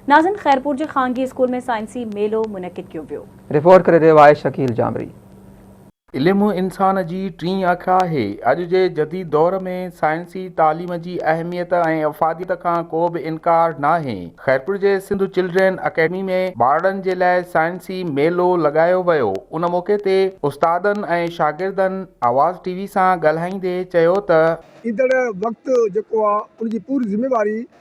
ناظم خيرپور جي خانگي اسڪول ۾ سائنسي ميلو منعقد ڪيو ويو. رپورٽ ڪري رهيو آهي شڪيل جامري. علم انسان جي ٽين اک آهي. اڄ جي جديد دور ۾ سائنسي تعليم جي اهميت ۽ افاديت کان ڪو به انڪار ناهي. خيرپور جي سنڌ چلڊرين اڪيڊمي ۾ ٻارڙن جي لاء سائنسي ميلو لڳايو ويو. ان موقعي تي استادن ۽ شاگردن آواز ٽي وي سان ڳالهائيندي چيو ته. ايندڙ وقت جيڪو آ ان جي پوري ذميواري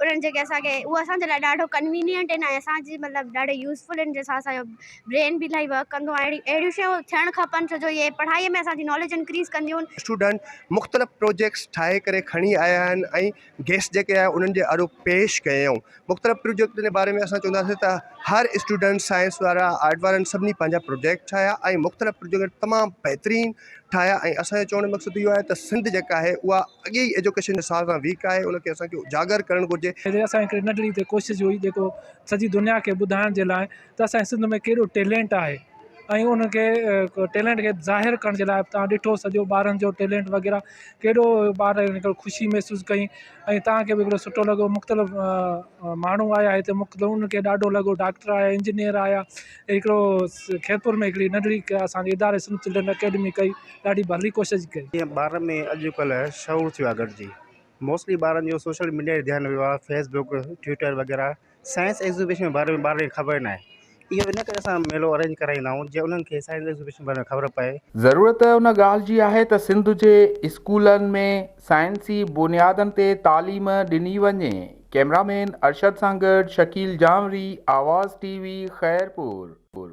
انهن جي ڪي اسان کي اهو اسان جي لاء ڏاڍو ڪنوينينٽ آهن ۽ اسان جي مطلب ڏاڍا يوزفل آهن جنهن سان اسانجو برين به الاهي ورڪ ڪندو آهي اهڙي اهڙيون شيون ٿيڻ کپن ڇو جو اهي پڙهائي ۾ اسان جي ناليج انڪريز ڪنديون آهن. اسٽوڊنٽ مختلف پروجيڪٽس ٺاهي ڪري کڻي آيا آهن ۽ گيسٽ جيڪي آيا انهن جي آڏو پيش ڪيائون مختلف پروجيڪٽن جي باري ۾ اسان چونداسين ته هر اسٽوڊنٽ سائنس وارا آرٽ وارن سڀني پنهنجا پروجيڪٽ ٺاهيا ۽ مختلف پروجيڪٽ تمام بهترين ٺاهيا ۽ اسان جو چوڻ جو مقصد اهو آهي ته سنڌ جيڪا آهي اها اڳي ئي ايجوڪيشن جي ساز سان ويڪ آهي ان کي اسان کي اجاگر ڪرڻ گهرجي. جي اسان جي هڪڙي ننڍڙي هتي ڪوشش هئي جيڪو سڄي دنيا کي ٻڌائڻ جي لاء ته اسان جي سنڌ ۾ ڪيڏو ٽيلينٽ آهي ۽ ان کي ٽيلينٽ کي ظاهر ڪرڻ جي لاء به تان ڏٺو سڄو ٻارن جو ٽيلينٽ وغيره ڪيڏو ٻار هڪڙو خوشي محسوس ڪئي ۽ تان کي به هڪڙو سٺو لڳو مختلف ماڻهو آيا هتي مختلف ان کي ڏاڍو لڳو ڊاڪٽر آيا انجنيئر آيا هڪڙو خيرپور ۾ هڪڙي ننڍڙي اسان جي اداري سنڌ چلڊرن اڪيڊمي ڪئي ڏاڍي ڀلي ڪوشش ڪئي. جيئن ٻارن ۾ اڄ ڪلهه شعور ٿيو آهي گڏجي موسٽلي ٻارن جو سوشل ميڊيا ڏي ڌيان ويو آهي فيس بڪ ٽوئٽر وغيره سائنس ايگزوبيشن جي باري ۾ ٻارن کي خبر ناهي اهو ان ڪري اسان ميلو ارينج ڪرائيندا آهيون جيئن انهن کي سائنس ايگزوبيشن جي باري ۾ خبر پئي. ضرورت ان ڳالهه جي آهي ته سنڌ جي اسڪولن ۾. سائنسي بنيادن تي تعليم ڏني وڃي، ڪئميرا مين ارشد سان گڏ شڪيل جانوري، آواز ٽي وي، خيرپور.